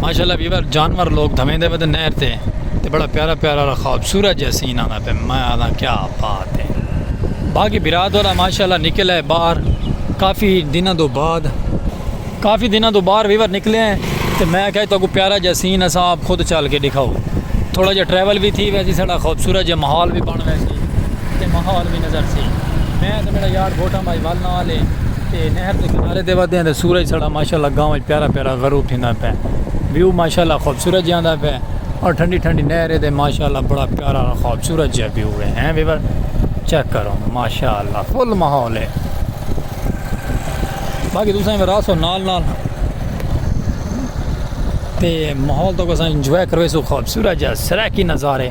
ماشاءاللہ ویور جانور لوگ دھویں دے ودے نہر تے تے بڑا پیارا پیارا را خواب سورہ جیسے سین آنا پہ میں آنا کیا بات ہے باقی براد والا ماشاءاللہ نکل ہے باہر کافی دنہ دو بعد کافی دنہ دو باہر ویور نکلے ہیں تے میں کہا تو کو پیارا جیسے سین اسا آپ خود چال کے دکھاؤ تھوڑا جا ٹریول بھی تھی ویسی سڑا خواب سورہ جیسے محال بھی بان ویسی تے محال بھی نظر سی میں تے میڈا یار بوٹاں مائی ول نال اے تے نہر دے کنارے تے ودے آں تے سورج ساڈا ماشاءاللہ گاؤں وچ پیارا پیارا غروب تھیندا پے ویو ماشاءاللہ خوبصورت جاندا پے اور ٹھنڈی ٹھنڈی نہر اے تے ماشاءاللہ بڑا پیارا خوبصورت جا ویو اے ہیں ویور چیک کرو ماشاءاللہ فل ماحول اے باقی تساں وی راسو نال نال تے ماحول تو کساں انجوائے کروے سو خوبصورت جا سرائیکی نظارے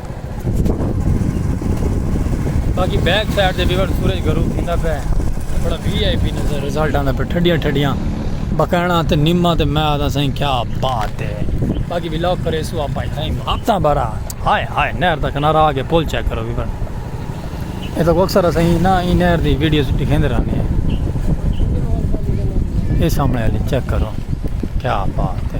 باقی بیک سائیڈ دے ویور سورج گرو تھیندا پہ بڑا وی آئی پی نظر رزلٹ آندا پہ ٹھڈیاں ٹھڈیاں بکینا تے نیما تے میں آدھا سائیں کیا بات ہے باقی ولاگ کرے سو آپ آئی تھا ماتا برا ہائے ہائے نہر دا کنارہ آگے پول چیک کرو ویور اے تو اکثر سائیں نا ای نہر دی ویڈیو سٹی کھیندے رہنے ہیں اے سامنے علی چیک کرو کیا بات ہے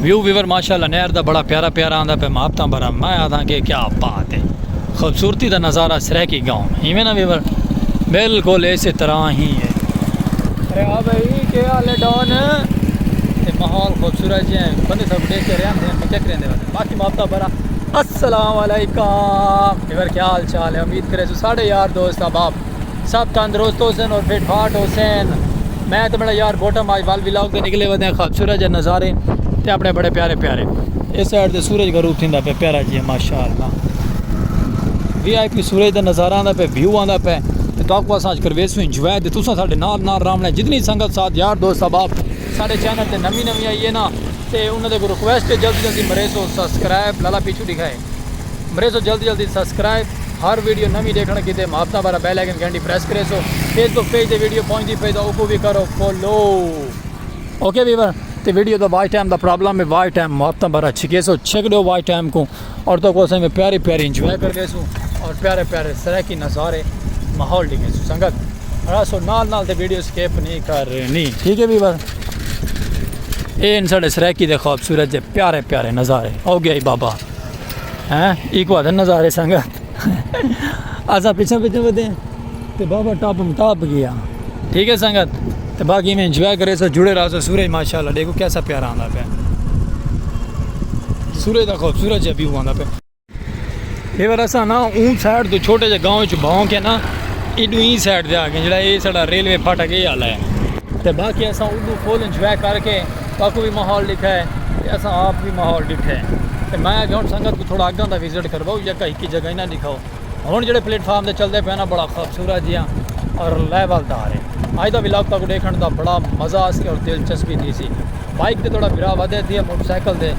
ویو ویور ماشاء اللہ نہر دا بڑا پیارا پیارا آندا پہ محبتاں بھرا میں آدھاں کہ کیا بات ہے خوبصورتی دا نظارہ سرائیکی گاؤں میں ایویں نا ویور بالکل اسی طرح ہی ہے ارے ہاں بھائی کیا حال ہے ڈان تے ماحول خوبصورت جی ہیں بندے سب دیکھ کے رہے ہیں میں کیا کریں دے بندے باقی محبتہ بھرا السلام علیکم ویور کیا حال چال ہے امید کرے سو ساڑھے یار دوست احباب سب تندرست ہوسن اور فٹ فاٹ ہوسن میں تے میڈا یار بوٹا ماج ول ولاگ تے نکلے ودے ہیں خوبصورت جے نظارے تے اپنے بڑے پیارے پیارے اس سائیڈ تے سورج غروب تھیندا پہ پیارا جی ماشاءاللہ وی آئی پی سورج دا نظارہ آندا پہ ویو آندا پہ تے تو کو اساں کروے سو انجوائے تے تساں ساڈے نال نال رامنا جتنی سنگت ساتھ یار دوست احباب ساڈے چینل تے نوی نوی آئیے نا تے انہاں دے کو ریکویسٹ جلدی جلدی مریسو سبسکرائب لالا پیچھو دکھائے مریسو جلدی جلدی سبسکرائب ہر ویڈیو نوی دیکھن کیتے محبتہ بارا بیل آئیکن گھنٹی پریس کریسو فیس بک پیج تے ویڈیو پہنچ دی پئی دا اوکو بھی کرو فالو اوکے ویور تے ویڈیو دا واچ ٹائم دا پرابلم ہے واچ ٹائم محبتہ بارا چھکیسو چھک دیو واچ ٹائم کو اور تو کو سنگ پیاری پیاری انجوائے کر گئے سو اور پیارے پیارے سرائے کی نظارے ماحول ڈگے سو سنگت اڑا سو نال نال تے ویڈیو سکیپ نہیں کرنی ٹھیک ہے بھی بس اے ان ساڈے سرائیکی دے خوبصورت جے پیارے پیارے نظارے او گیا بابا ہیں ایکو ادھر نظارے سنگا اسا پیچھے پیچھے ودے تے بابا ٹاپ ٹاپ گیا ٹھیک ہے سنگت تے باقی میں انجوائے کرے سو جڑے رہا سو سورج ماشاءاللہ دیکھو کیسا پیارا آندا پہ سورج دا خوبصورت جے ویو آندا پہ یہ بار اساں نا اون سائیڈ تو چھوٹے جے گاؤں چ بھاؤں کے نا ایڈو این سائیڈ دے آ گئے جڑا اے ساڈا ریلوے پھاٹک اے آلا ہے تے باقی اساں ادو فل انجوائے کر کے تاکو بھی ماحول ڈٹھا ہے تے اساں آپ بھی ماحول ڈٹھا ہے تے میں اگے ہن سنگت کو تھوڑا اگاں دا وزٹ کرواؤ یا کہیں کی جگہ نہ دکھاؤ ہن جڑے پلیٹ فارم تے چلدے پے نا بڑا خوبصورت جیاں اور لیول دار ہے اج دا ولاگ تاکو ڈیکھن دا بڑا مزہ اس کے اور دلچسپی تھی سی بائیک تے توڑا بھرا ودھے تھی ہے موٹر سائیکل دے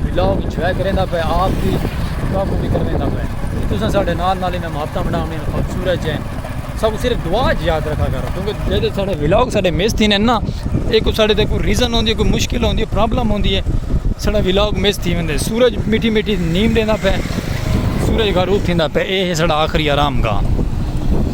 ولاگ انجوائے کریندا پے آپ دی کاکو بھی کرویندا پے جی تساں ساڈے نال نال انہاں محبتاں بنا ہوئیں خوبصورت جے سب صرف دعا جی یاد رکھا کرو کیونکہ جیسے ساڈے ولاگ ساڈے مس تھی نے نا ایک کو ساڈے تے کوئی ریزن ہوندی ہے کوئی مشکل ہوندی ہے پرابلم ہوندی ہے ساڈا ولاگ مس تھی ویندے سورج میٹھی میٹھی نیم دیندا پے سورج غروب تھیندا پے اے ہے ساڈا آخری آرام گاہ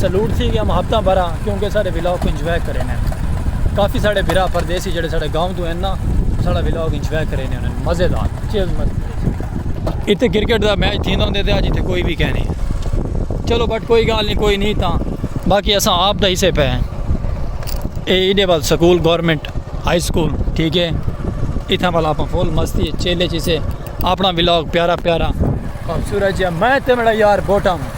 سلوٹ تھی گیا محبتاں بھرا کیوں کہ ساڑے ولاگ کو انجوائے کرے نے کافی ساڑے بھرا پردیسی جڑے ساڑے گاؤں تو ہیں نا ساڑا ولاگ انجوائے کرے نے مزے دار چیز مزے اتھے کرکٹ دا میچ تھیندا ہوندے تے اج اتھے کوئی بھی کہہ نہیں چلو بٹ کوئی گال نہیں کوئی نہیں تاں باقی اساں آپ دا حصے پہ ہیں اے ایڈے وال سکول گورنمنٹ ہائی سکول ٹھیک ہے اتھاں والا اپنا فول مستی چیلے چیسے اپنا ولاگ پیارا پیارا خوبصورت جی میں تے میرا یار بوٹا ہوں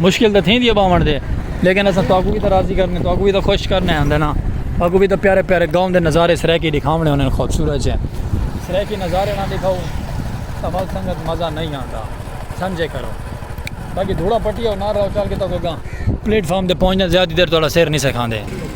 مشکل تاں تھیندی ہے باون دے لیکن اساں تہاکوں وی تاں راضی کرنے تہاکوں وی تاں خوش کرنے ہندے نا تہاکوں وی تاں پیارے پیارے گاؤں دے نظارے سرائیکی ڈکھاونے ہوندے خوبصورت جے سرائیکی نظارے نہ ڈکھاؤ تاں ول سنگت مزہ نہیں آندا سمجھے کرو باقی دھوڑا پٹی ہو نہ رہو چل کے تہاکوں گاں پلیٹ فارم تے پہنچ دے زیادہ دیر تہاڈا سر نہیں سکھاندے۔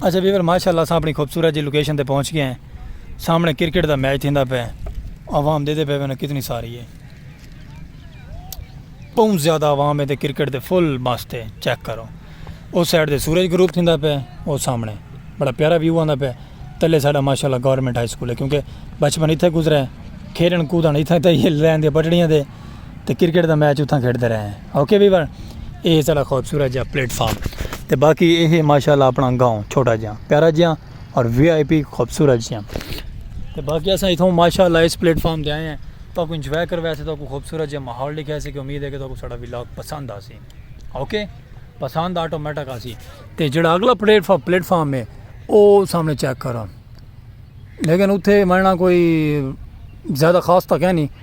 اچھا ویور ماشاء اللہ سامنے خوبصورت جی لوکیشن تے پہنچ گئے ہیں سامنے کرکٹ دا میچ تھیندا پہ عوام دے دے پہ میں کتنی ساری ہے بہت زیادہ عوام ہے تے کرکٹ دے فل مست ہے چیک کرو او سائیڈ دے سورج گروپ تھیندا پہ او سامنے بڑا پیارا ویو آندا پہ تلے ساڈا ماشاءاللہ گورنمنٹ ہائی سکول ہے کیونکہ بچپن اتھے گزرے کھیلن کودن اتھے تے یہ لین دے پٹڑیاں دے تے کرکٹ دا میچ اتھاں کھیڈدے رہے ہیں اوکے وی ون اے ساڑا خوبصورت جیہا پلیٹ فارم تے باقی اے ہے ماشاءاللہ اپنا گاؤں چھوٹا جیہا پیارا جیہا اور وی آئی پی خوبصورت جیہا تے باقی اساں اتھاں ماشاءاللہ اس پلیٹ فارم تے آئے ہیں تو کو انجوائے کرو ویسے تو کو خوبصورت جیہا ماحول دکھایا سی کہ امید ہے کہ تو کو ساڑا ولاگ پسند آ سی اوکے پسند آٹومیٹک آ سی تے جڑا اگلا پلیٹ فارم پلیٹ فارم ہے او سامنے چیک کرو لیکن اتھے مرنا کوئی زیادہ خاص تک ہے نہیں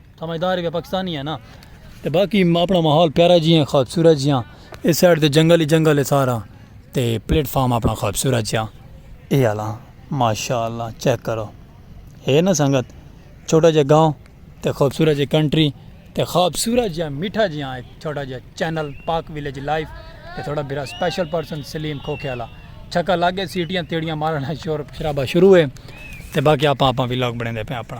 سمجھدار ہے پاکستانی ہے نا تے باقی اپنا ماحول پیارا جی ہیں خوبصورت جی ہیں اس سائڈ تے جنگل ہی جنگل ہے سارا تے پلیٹ فارم اپنا خوبصورت جی ہیں اے آلا ماشاء اللہ چیک کرو ہے نا سنگت چھوٹا جا گاؤں تے خوبصورت جی کنٹری تے خوبصورت جی میٹھا جی ہیں چھوٹا جا چینل پاک ویلیج لائف تے تھوڑا برا سپیشل پرسن سلیم کھوکھے آلا چھکا لاگے سیٹیاں تیڑیاں مارنا شور شرابہ شروع ہے تے باقی آپ آپ ویلاگ بڑھیں دے پہ اپنا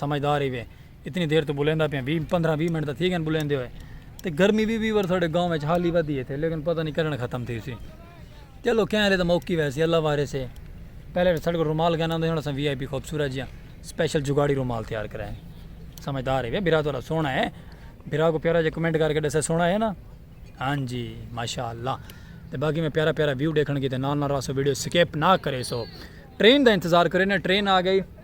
سمجھدار ہی وے اتنی دیر تو بولیندا پیا وی پندرہ وی منٹ دا تھی گن بولیندے ہوئے تے گرمی وی وی ورسہ دے گاؤں وچ حالی ودی ہے تھے لیکن پتہ نہیں کیڑن ختم تھی سی چلو کہیں علی دا موقعی وے سی اللہ وارے سے پہلے ساڈے کو رومال گانا ہوں دے ہوں سا وی آئی پی خوبصورت جیاں سپیشل جگاڑی رومال تیار کرائے سمجھدار ہے وے برا تو سونا ہے برا کو پیارا جے کمنٹ کر کے دسے سونا ہے نا ہاں جی ماشاءاللہ تے باقی میں پیارا پیارا ویو دیکھن کی تے نال نال راسو ویڈیو سکیپ نہ کرے سو ٹرین دا انتظار کرے نا ٹرین آ گئی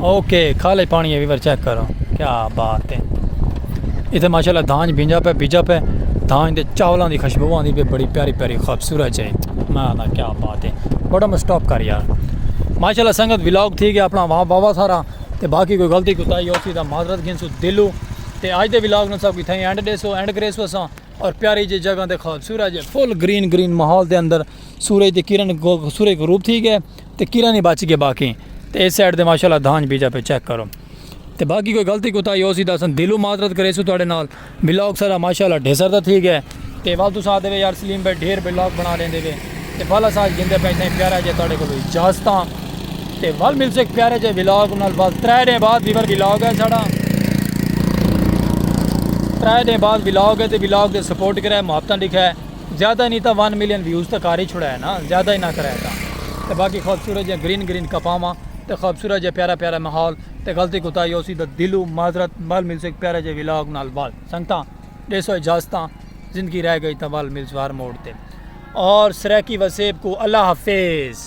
اوکے کھالے پانی ہے ویور چیک کرو کیا بات ہے اتھے ماشاءاللہ دھانج بھینجا پہ بھیجا پہ دھانج دے چاولاں دی خوشبو آندی پہ بڑی پیاری پیاری خوبصورت جائی میں دا کیا بات ہے بڑا میں سٹاپ کر یار ماشاءاللہ سنگت ولاگ تھی گیا اپنا وہاں بابا سارا تے باقی کوئی غلطی کوتا ہی ہوتی دا معذرت گھن سو دلو تے آج دے ولاگ نو سب کی تھیں اینڈ دے سو اینڈ کرے سو سا اور پیاری جی جگہ دے خوبصورت جی فل گرین گرین ماحول دے اندر سورج دی کرن سورج غروب تھی گئے تے کیرا نی بچ گئے باقی تے ایس سائیڈ تے ماشاءاللہ دھانج بیجا پے چیک کرو تے باقی کوئی غلطی کوتاہی ہوسی تاں اساں دلوں معذرت کریسوں تہاڈے نال بلاگ سارا ماشاءاللہ ڈھیسر دا تھی گئے تے ول تساں آدھے وے یار سلیم بھائی ڈھیر بلاگ بنا لیندے وے تے ول اساں اج گھندے پئے سائیں پیارا جے تہاڈے کولوں اجازتاں تے ول ملسوں ایک پیارے جے بلاگ نال ول ترے ڈینھ بعد ویور بلاگ ہے ساڈا ترے ڈینھ بعد بلاگ ہے تے بلاگ دے سپورٹ کرے محبتاں ڈکھے زیادہ نی تاں ون ملین ویوز تاں کر ہی چھوڑا ہے نا زیادہ ہی نہ کرائے تاں تے باقی خوبصورت جیاں گرین گرین کپاواں تے خوبصورت جیاں پیارا پیارا ماحول تے غلطی کوتاہی ہوسی تاں دلوں معذرت ول ملسوں ہک پیارے جے ولاگ نال ول سنگتاں ڈیسو اجازتاں زندگی رہ گئی تاں ول ملسوں ہر موڑ تے اور سرائیکی وسیب کوں اللہ حافظ۔